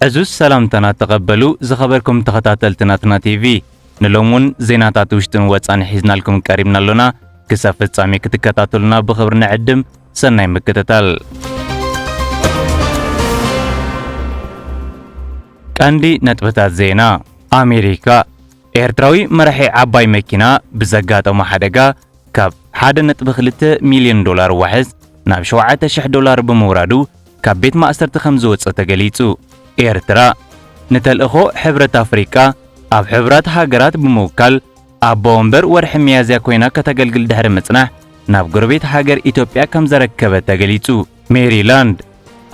ዕዙዝ ሰላምታና ተቐበሉ ዝኸበርኩም ተኸታተልቲ ናትና ቲቪ ንሎም እውን ዜናታት ውሽጥን ወፃን ሒዝናልኩም ቀሪብና ኣሎና ክሳብ ፍጻሜ ክትከታተሉና ብኽብሪ ንዕድም ሰናይ ምክትታል ቀንዲ ነጥብታት ዜና ኣሜሪካ ኤርትራዊ መራሒ ዓባይ መኪና ብዘጋጠሞ ሓደጋ ካብ ሓደ ነጥቢ ክልተ ሚልዮን ዶላር ዋሕስ ናብ ሸውዓተ ሽሕ ዶላር ብምውራዱ ካብ ቤት ማእሰርቲ ከም ዝወጸ ተገሊጹ። ኤርትራ፣ ንተልእኾ ሕብረት ኣፍሪቃ ኣብ ሕቡራት ሃገራት ብምውካል ኣቦ ወንበር ወርሒ ሚያዝያ ኮይና ከተገልግል ድሕሪ ምጽናሕ ናብ ጎረቤት ሃገር ኢትዮጵያ ከም ዘረከበት ተገሊጹ። ሜሪላንድ፣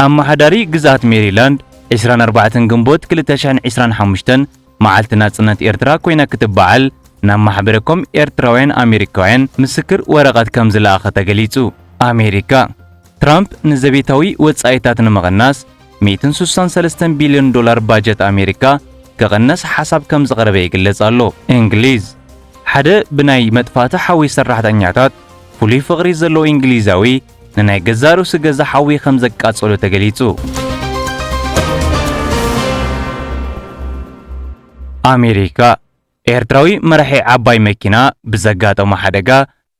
ኣመሓዳሪ ግዝኣት ሜሪላንድ ዕስራን ኣርባዕተን ግንቦት ክልተ ሽሕን ዕስራን ሓሙሽተን መዓልቲ ናጽነት ኤርትራ ኮይና ክትበዓል ናብ ማሕበረ ኮም ኤርትራውያን ኣሜሪካውያን ምስክር ወረቐት ከም ዝለኣኸ ተገሊጹ። ኣሜሪካ፣ ትራምፕ ንዘቤታዊ ወጻኢታት ንምቕናስ ሚእትን ሱሳን ሰለስተን ቢልዮን ዶላር ባጀት ኣሜሪካ ክቕነስ ሓሳብ ከም ዘቕረበ ይግለጽ ኣሎ። እንግሊዝ፣ ሓደ ብናይ መጥፋእቲ ሓዊ ሰራሕተኛታት ፍሉይ ፍቕሪ ዘለዎ እንግሊዛዊ ንናይ ገዛእ ርእሱ ገዛ ሓዊ ከም ዘቃጸሎ ተገሊጹ። ኣሜሪካ ኤርትራዊ መራሒ ዓባይ መኪና ብዘጋጠሞ ሓደጋ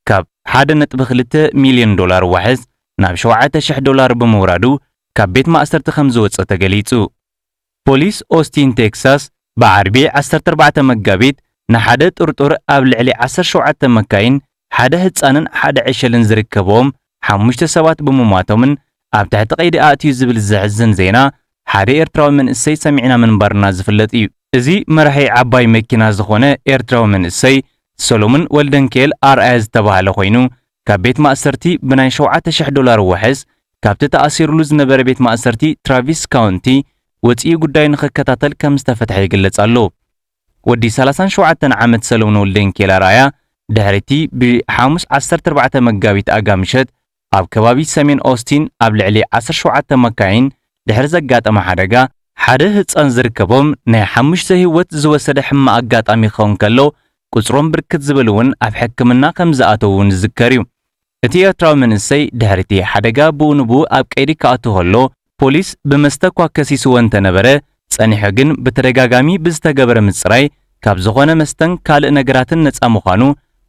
ካብ 1.2 ሚልዮን ዶላር ዋሕስ ናብ 7,000 ዶላር ብምውራዱ ካብ ቤት ማእሰርቲ ከም ዝወጸ ተገሊጹ። ፖሊስ ኦስቲን ቴክሳስ ብዓርቢ ዓሰርተ ኣርባዕተ መጋቢት ንሓደ ጥርጡር ኣብ ልዕሊ ዓሰርተ ሸውዓተ መካይን ሓደ ህጻንን ሓደ ዕሸልን ዝርከብዎም ሓሙሽተ ሰባት ብምሟቶምን ኣብ ትሕቲ ቀይዲ ኣእትዩ ዝብል ዘሕዝን ዜና ሓደ ኤርትራዊ መንእሰይ ሰሚዕና ምንባርና ዝፍለጥ እዩ። እዚ መራሒ ዓባይ መኪና ዝኾነ ኤርትራዊ መንእሰይ ሰሎሙን ወልደንኪኤል ኣርኣያ ዝተባህለ ኮይኑ ካብ ቤት ማእሰርቲ ብናይ ሸውዓተ ሽሕ ዶላር ዋሕስ ካብቲ ተኣሲርሉ ዝነበረ ቤት ማእሰርቲ ትራቪስ ካውንቲ ወጺኡ ጉዳዩ ንኽከታተል ከም ዝተፈትሐ ይግለጽ ኣሎ። ወዲ ሰላሳን ሸውዓተን ዓመት ሰለሙን ወልደንኪኤል ኣርኣያ ድሕሪ'ቲ ብ ሓሙስ ዓሰርተ ኣርባዕተ መጋቢት ኣጋ ምሸት ኣብ ከባቢ ሰሜን ኦስቲን ኣብ ልዕሊ ዓሰርተ ሸውዓተ መካይን ድሕሪ ዘጋጠመ ሓደጋ ሓደ ህጻን ዝርከቦም ናይ ሓሙሽተ ህይወት ዝወሰደ ሕማቕ ኣጋጣሚ ክኸውን ከሎ ቁጽሮም ብርክት ዝብል እውን ኣብ ሕክምና ከም ዝኣተዉ ንዝከር እዩ። እቲ ኤርትራዊ መንእሰይ ድሕሪ'ቲ ሓደጋ ብኡንብኡ ኣብ ቀይዲ ክኣቱ ከሎ ፖሊስ ብመስተ'ኳ ከሲስዎ እንተነበረ፣ ጸኒሑ ግን ብተደጋጋሚ ብዝተገበረ ምጽራይ ካብ ዝኾነ መስተን ካልእ ነገራትን ነጻ ምዃኑ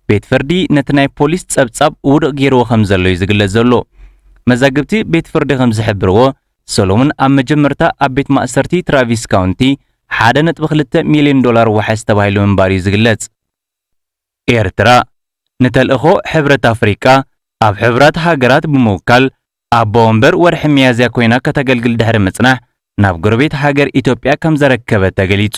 ቤት ፍርዲ ነቲ ናይ ፖሊስ ጸብጻብ ውዱቕ ገይርዎ ከም ዘሎ'ዩ ዝግለጽ ዘሎ። መዛግብቲ ቤት ፍርዲ ከም ዝሕብርዎ፣ ሰሎሙን ኣብ መጀመርታ ኣብ ቤት ማእሰርቲ ትራቪስ ካውንቲ ሓደ ነጥቢ ክልተ ሚልዮን ዶላር ዋሕስ ተባሂሉ ምንባሩ'ዩ ዝግለጽ። ኤርትራ፣ ንተልእኾ ሕብረት ኣፍሪቃ ኣብ ሕቡራት ሃገራት ብምውካል ኣቦ ወንበር ወርሒ ሚያዝያ ኮይና ከተገልግል ድሕሪ ምጽናሕ ናብ ጎረቤት ሃገር ኢትዮጵያ ከምዘረከበት ተገሊጹ።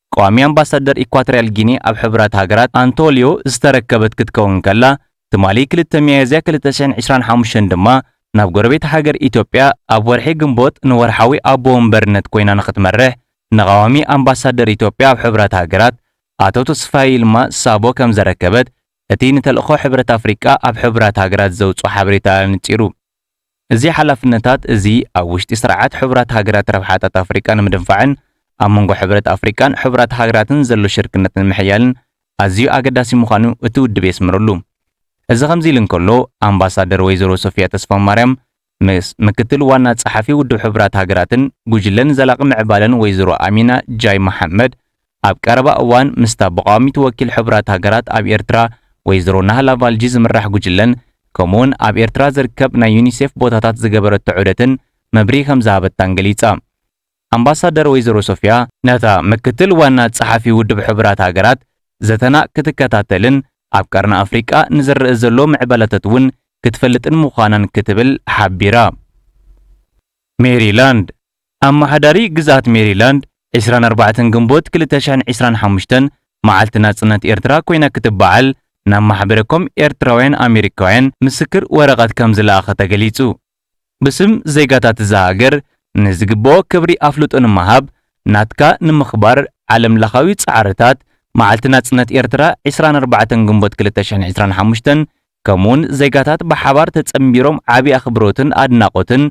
ቋሚ ኣምባሳደር ኢኳቶርያል ጊኒ ኣብ ሕቡራት ሃገራት ኣንቶልዮ ዝተረከበት ክትከውን ከላ፣ ትማሊ ክልተ ሚያዝያ ክልተ ሽሕን ዕስራን ሓሙሽተን ድማ ናብ ጎረቤት ሃገር ኢትዮጵያ ኣብ ወርሒ ግንቦት ንወርሓዊ ኣቦ ወንበርነት ኮይና ንኽትመርሕ ንቐዋሚ ኣምባሳደር ኢትዮጵያ ኣብ ሕቡራት ሃገራት ኣቶ ተስፋይ ይልማ ሳቦ ከምዘረከበት እቲ ንተልእኾ ሕብረት ኣፍሪቃ ኣብ ሕቡራት ሃገራት ዘውጽኦ ሓበሬታ ኣነጺሩ። እዚ ሓላፍነታት እዚ ኣብ ውሽጢ ስርዓት ሕቡራት ሃገራት ረብሓታት ኣፍሪቃ ንምድንፋዕን ኣብ መንጎ ሕብረት ኣፍሪቃን ሕቡራት ሃገራትን ዘሎ ሽርክነት ንምሕያልን ኣዝዩ ኣገዳሲ ምዃኑ እቲ ውድብ የስምረሉ። እዚ ከምዚ ኢሉ እንከሎ ኣምባሳደር ወይዘሮ ሶፍያ ተስፋማርያም ምስ ምክትል ዋና ጸሓፊ ውድብ ሕቡራት ሃገራትን ጉጅለን ዘላቒ ምዕባለን ወይዘሮ ኣሚና ጃይ መሓመድ ኣብ ቀረባ እዋን ምስታ ብቋዋሚት ወኪል ሕቡራት ሃገራት ኣብ ኤርትራ ወይዘሮ ናህላ ቫልጂ ዝምራሕ ጉጅለን ከምኡ'ውን ኣብ ኤርትራ ዝርከብ ናይ ዩኒሴፍ ቦታታት ዝገበረቶ ዑደትን መብርሂ ከምዝሃበታን ገሊጻ። ኣምባሳደር ወይዘሮ ሶፍያ፣ ነታ ምክትል ዋና ጸሓፊ ውድብ ሕቡራት ሃገራት ዘተና ክትከታተልን ኣብ ቀርኒ ኣፍሪቃ ንዝረእ ዘሎ ምዕባለታት'ውን ክትፈልጥን ምዃናን ክትብል ሓቢራ። ሜሪላንድ፣ ኣመሓዳሪ ግዝኣት ሜሪላንድ፣ ዕስራን ኣርባዕተን ግንቦት ክልተ ሽሕን ዕስራን ሓሙሽተን መዓልቲ ናጽነት ኤርትራ ኮይና ክትበዓል ናብ ማሕበረ ኮም ኤርትራውያን ኣሜሪካውያን ምስክር ወረቐት ከምዝለኣኸ ተገሊጹ። ብስም ዜጋታት እዛ ሃገር ንዝግበኦ ክብሪ ኣፍልጦ ንምሃብ ናትካ ንምኽባር ዓለም ለኻዊ ጻዕርታት፣ መዓልቲ ናጽነት ኤርትራ ዕስራን ኣርባዕተን ግንቦት ክልተ ሽሕን ዕስራን ሓሙሽተን ከምኡውን ዜጋታት ብሓባር ተጸንቢሮም ዓቢ ኣኽብሮትን ኣድናቖትን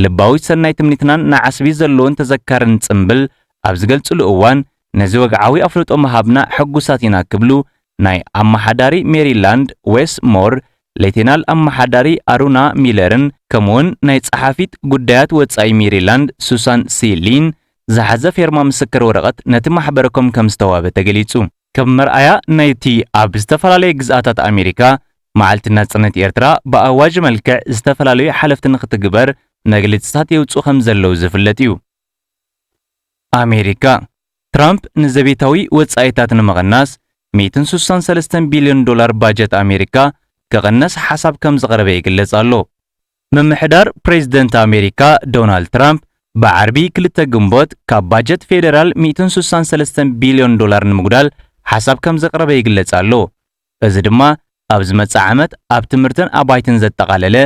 ልባዊት ሰናይ ትምኒትናን ንዓስቢ ዘለዎን ተዘካርን ጽንብል ኣብ ዝገልጽሉ እዋን ነዚ ወግዓዊ ኣፍልጦ ምሃብና ሕጉሳት ኢና ክብሉ ናይ ኣመሓዳሪ ሜሪላንድ ዌስ ሞር ሌቴናል ኣመሓዳሪ ኣሩና ሚለርን ከምኡውን ናይ ጸሓፊት ጉዳያት ወጻኢ ሜሪላንድ ሱሳን ሲ ሊን ዝሓዘ ፌርማ ምስክር ወረቐት ነቲ ማሕበረ ኮም ከም ዝተዋህበ ተገሊጹ። ከም መርኣያ ናይቲ ኣብ ዝተፈላለየ ግዝኣታት ኣሜሪካ መዓልቲ ናጽነት ኤርትራ ብኣዋጅ መልክዕ ዝተፈላለዩ ሓለፍቲ ንኽትግበር መግልጺታት የውጽኡ ከምዘለዉ ዝፍለጥ እዩ። ኣሜሪካ፣ ትራምፕ ንዘቤታዊ ወጻኢታት ንምቕናስ ሚእትን ስሳን ሰለስተን ቢልዮን ዶላር ባጀት ኣሜሪካ ክቕነስ ሓሳብ ከምዘቕረበ ይግለጽ ኣሎ። ምምሕዳር ፕሬዝደንት ኣሜሪካ ዶናልድ ትራምፕ ብዓርቢ ክልተ ግንቦት ካብ ባጀት ፌደራል ሚእትን ስሳን ሰለስተን ቢልዮን ዶላር ንምጉዳል ሓሳብ ከምዘቕረበ ይግለጽ ኣሎ። እዚ ድማ ኣብ ዝመጽእ ዓመት ኣብ ትምህርትን ኣባይትን ዘጠቓለለ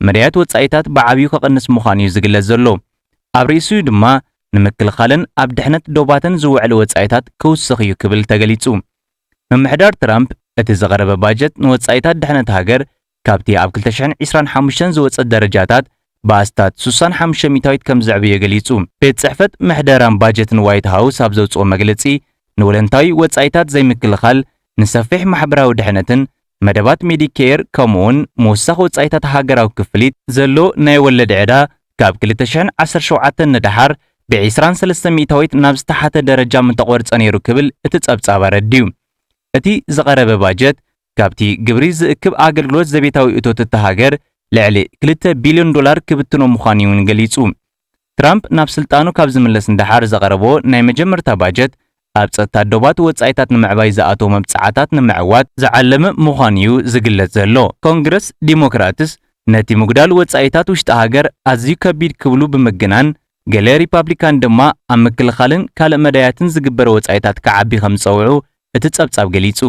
መዳያት ወጻኢታት ብዓብዩ ከቕንስ ምዃኑ'ዩ ዝግለጽ ዘሎ። ኣብ ርእሲኡ ድማ ንምክልኻልን ኣብ ድሕነት ዶባትን ዝውዕል ወጻኢታት ክውስኽ'ዩ ክብል ተገሊጹ። ምምሕዳር ትራምፕ እቲ ዝቐረበ ባጀት ንወጻኢታት ድሕነት ሃገር ካብቲ ኣብ ክልተ ሽሕን ዒስራን ሓሙሽተን ዝወጸ ደረጃታት ብኣስታት ሱሳን ሓሙሽተ ሚታዊት ከም ዝዕበየ ገሊጹ። ቤት ጽሕፈት ምሕደራን ባጀትን ዋይት ሃውስ ኣብ ዘውጽኦ መግለጺ፣ ንወለንታዊ ወጻኢታት ዘይምክልኻል፣ ንሰፊሕ ማሕበራዊ ድሕነትን መደባት ሜዲኬር ከምኡ'ውን ምውሳኽ ወጻኢታት ሃገራዊ ክፍሊት፣ ዘሎ ናይ ወለድ ዕዳ ካብ ክልተ ሽሕን ዓሰርተ ሸውዓተን ንደሓር ብዒስራን ሰለስተ ሚእታዊት ናብ ዝተሓተ ደረጃ ምተቖርጸ ነይሩ ክብል እቲ ጸብጻብ ኣረዲኡ። እቲ ዝቐረበ ባጀት ካብቲ ግብሪ ዝእክብ ኣገልግሎት ዘቤታዊ እቶት እታ ሃገር ልዕሊ ክልተ ቢልዮን ዶላር ክብትኖ ምዃኑ'ዩ'ውን ገሊጹ። ትራምፕ ናብ ስልጣኑ ካብ ዝምለስ ንደሓር ዘቕረቦ ናይ መጀመርታ ባጀት፣ ኣብ ጸጥታ ዶባት ወጻኢታት ንምዕባይ ዝኣተዎ መብጽዓታት ንምዕዋት ዝዓለመ ምዃኑ'ዩ ዝግለጽ ዘሎ። ኮንግረስ ዲሞክራትስ ነቲ ምጉዳል ወጻኢታት ውሽጢ ሃገር ኣዝዩ ከቢድ ክብሉ ብምግናን፣ ገለ ሪፓብሊካን ድማ ኣብ ምክልኻልን ካልእ መዳያትን ዝግበር ወጻኢታት ክዓቢ ከም ዝጸውዑ እቲ ጸብጻብ ገሊጹ።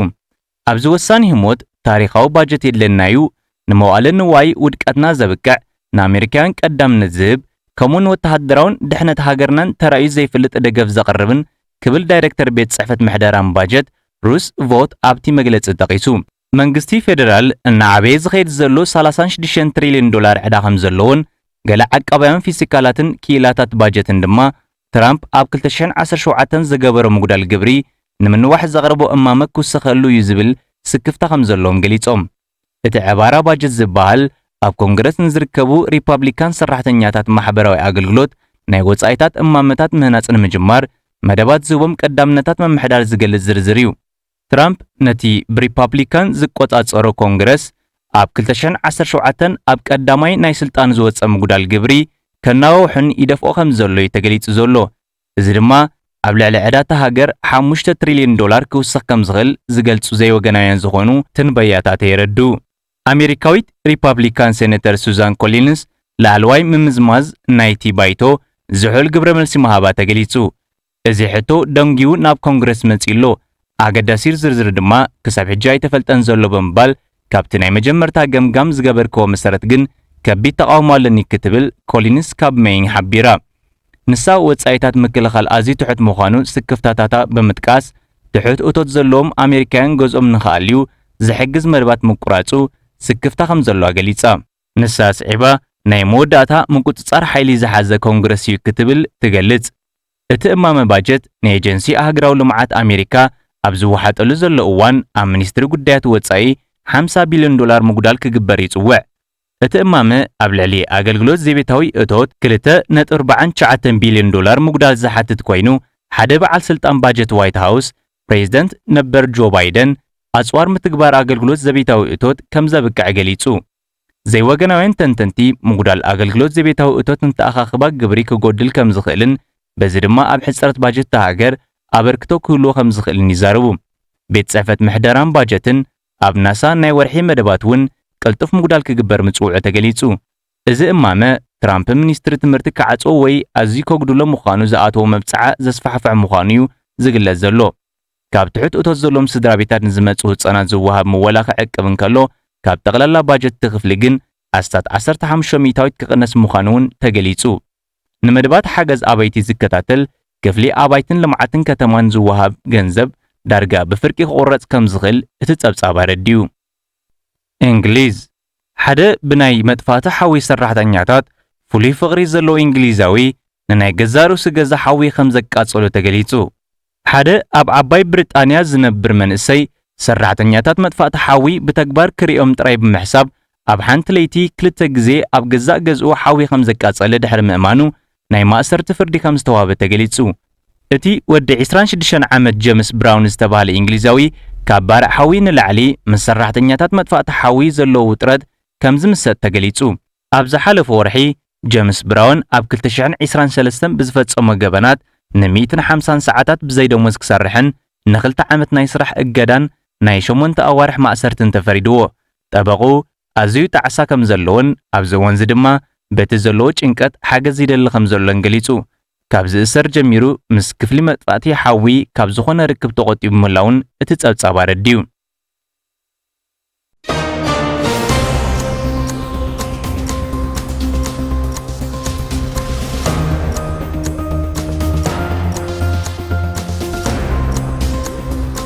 ኣብዚ ወሳኒ ህሞት ታሪኻዊ ባጀት የድልየና እዩ፣ ንመዋእለ ንዋይ ውድቀትና ዘብቅዕ፣ ንኣመሪካውያን ቀዳምነት ዝህብ፣ ከምኡ ንወተሃደራውን ድሕነት ሃገርናን ተራእዩ ዘይፈልጥ ደገፍ ዘቕርብን ክብል ዳይረክተር ቤት ጽሕፈት ምሕደራን ባጀት ሩስ ቮት ኣብቲ መግለጺ ጠቒሱ። መንግስቲ ፌደራል እናዓበየ ዝኸይድ ዘሎ ሰላሳን ሽዱሽተን ትሪልዮን ዶላር ዕዳ ከምዘለዎን ገለ ዓቃባውያን ፊሲካላትን ክኢላታት ባጀትን ድማ ትራምፕ ኣብ ክልተ ሽሕን ዓሰርተ ሸውዓተን ዝገበሮ ምጉዳል ግብሪ ንምንዋሕ ዘቕረቦ እማመ ክውሰኸሉ እዩ ዝብል ስክፍታ ከምዘለዎም ገሊጾም። እቲ ዕባራ ባጀት ዝበሃል ኣብ ኮንግረስ ንዝርከቡ ሪፓብሊካን ሰራሕተኛታት ማሕበራዊ ኣገልግሎት ናይ ወጻኢታት እማመታት ምህናጽ ንምጅማር መደባት ዝህቦም ቀዳምነታት ምምሕዳር ዝገልጽ ዝርዝር እዩ። ትራምፕ ነቲ ብሪፓብሊካን ዝቆጻጸሮ ኮንግረስ ኣብ ክልተ ሽሕን ዓሰርተ ሸውዓተን ኣብ ቀዳማይ ናይ ስልጣኑ ዝወጸ ምጉዳል ግብሪ ከናዋውሕን ይደፍኦ ከምዘሎ'ዩ ተገሊጹ ዘሎ። እዚ ድማ ኣብ ልዕሊ ዕዳ እታ ሃገር ሓሙሽተ ትሪልዮን ዶላር ክውስኽ ከምዝኽእል ዝገልጹ ዘይወገናውያን ዝኾኑ ትንበያታት የረድኡ። ኣሜሪካዊት ሪፓብሊካን ሴነተር ሱዛን ኮሊንስ ላዕለዋይ ምምዝማዝ ናይቲ ባይቶ ዝሑል ግብረመልሲ ምሃባ ተገሊጹ። እዚ ሕቶ ደንጉዩ ናብ ኮንግረስ መጺኡ ኣሎ። ኣገዳሲር ዝርዝር ድማ ክሳብ ሕጂ ኣይተፈልጠን ዘሎ ብምባል ካብቲ ናይ መጀመርታ ገምጋም ዝገበርከዎ መሰረት ግን ከቢድ ተቓውሞ ኣለኒ ክትብል ኮሊንስ ካብ መይን ሓቢራ። ንሳ ወጻኢታት ምክልኻል ኣዝዩ ትሑት ምዃኑ ስክፍታታታ ብምጥቃስ ትሑት እቶት ዘለዎም ኣሜሪካውያን ገዝኦም ንኽኣልዩ ዝሕግዝ መደባት ምቁራጹ ስክፍታ ከምዘለዋ ገሊጻ። ንሳ ኣስዒባ፣ ናይ መወዳእታ ምቁጽጻር ሓይሊ ዝሓዘ ኮንግረስ እዩ ክትብል ትገልጽ። እቲ እማመ ባጀት ንኤጀንሲ ኣህግራዊ ልምዓት ኣሜሪካ ኣብ ዝወሓጠሉ ዘሎ እዋን ኣብ ሚኒስትሪ ጉዳያት ወጻኢ ሓምሳ ቢልዮን ዶላር ምጉዳል ክግበር ይጽውዕ። እቲ እማመ ኣብ ልዕሊ ኣገልግሎት ዜቤታዊ እቶት ክልተ ነጥቢ ኣርባዓን ትሽዓተን ቢልዮን ዶላር ምጉዳል ዝሓትት ኮይኑ፣ ሓደ በዓል ስልጣን ባጀት ዋይት ሃውስ ፕሬዝደንት ነበር ጆ ባይደን ኣጽዋር ምትግባር ኣገልግሎት ዘቤታዊ እቶት ከም ዘብቅዐ ገሊጹ። ዘይወገናውያን ተንተንቲ፣ ምጉዳል ኣገልግሎት ዘቤታዊ እቶት ንተኣኻኽባ ግብሪ ክጎድል ከም ዝኽእልን በዚ ድማ ኣብ ሕጽረት ባጀት እታ ሃገር ኣበርክቶ ክህልዎ ከም ዝኽእልን ይዛረቡ። ቤት ጽሕፈት ምሕደራን ባጀትን ኣብ ናሳ ናይ ወርሒ መደባት እውን ቅልጡፍ ምጉዳል ክግበር ምጽውዑ ተገሊጹ። እዚ እማመ፣ ትራምፕ ሚኒስትሪ ትምህርቲ ክዓጽዎ ወይ ኣዝዩ ከጉድሎ ምዃኑ ዝኣተዎ መብጽዓ ዘስፋሕፍሕ ምዃኑ'ዩ ዝግለጽ ዘሎ። ካብ ትሑት እቶት ዘለዎም ስድራቤታት ንዝመጽኡ ህጻናት ዝወሃብ ምወላ ክዕቅብ እንከሎ፣ ካብ ጠቕላላ ባጀት'ቲ ክፍሊ ግን ኣስታት ዓሰርተ ሓሙሽተ ሚእታዊት ክቕነስ ምዃኑ'ውን ተገሊጹ። ንመደባት ሓገዝ ኣባይቲ ዝከታተል ክፍሊ ኣባይትን ልምዓትን ከተማን ዝወሃብ ገንዘብ ዳርጋ ብፍርቂ ክቑረጽ ከምዝኽእል እቲ ጸብጻብ ኣረዲኡ። እንግሊዝ፣ ሓደ ብናይ መጥፋእቲ ሓዊ ሰራሕተኛታት ፍሉይ ፍቕሪ ዘለዎ ኢንግሊዛዊ ንናይ ገዛእ ርእሱ ገዛ ሓዊ ከም ዘቃጸሎ ተገሊጹ። ሓደ ኣብ ዓባይ ብሪጣንያ ዝነብር መንእሰይ፣ ሰራሕተኛታት መጥፋእቲ ሓዊ ብተግባር ክርእዮም ጥራይ ብምሕሳብ ኣብ ሓንቲ ለይቲ ክልተ ግዜ ኣብ ገዛእ ገዝኡ ሓዊ ከም ዘቃጸለ ድሕሪ ምእማኑ ናይ ማእሰርቲ ፍርዲ ከም ዝተዋህበ ተገሊጹ። እቲ ወዲ ዕስራን ሽዱሽተን ዓመት ጀምስ ብራውን ዝተባህለ ኢንግሊዛዊ፣ ካብ ባርዕ ሓዊ ንላዕሊ ምስ ሰራሕተኛታት መጥፋእቲ ሓዊ ዘለዎ ውጥረት ከም ዝምሰጥ ተገሊጹ። ኣብ ዝሓለፈ ወርሒ፣ ጀምስ ብራውን ኣብ ክልተ ሽሕን ዕስራን ሰለስተን ብዝፈጸሞ ገበናት ን ሚእትን ሓምሳን ሰዓታት ብዘይ ደሞዝ ክሰርሕን ንኽልተ ዓመት ናይ ስራሕ እገዳን ናይ ሸሞንተ ኣዋርሕ ማእሰርትን ተፈሪድዎ። ጠበቕኡ ኣዝዩ ጣዕሳ ከም ዘለዎን ኣብዚ እዋንዚ ድማ በቲ ዘለዎ ጭንቀት ሓገዝ ይደሊ ከም ዘሎን ገሊጹ። ካብ ዝእሰር ጀሚሩ ምስ ክፍሊ መጥፋእቲ ሓዊ ካብ ዝኾነ ርክብ ተቖጢቡ ምህላዉን እቲ ጸብጻብ ኣረዲኡ።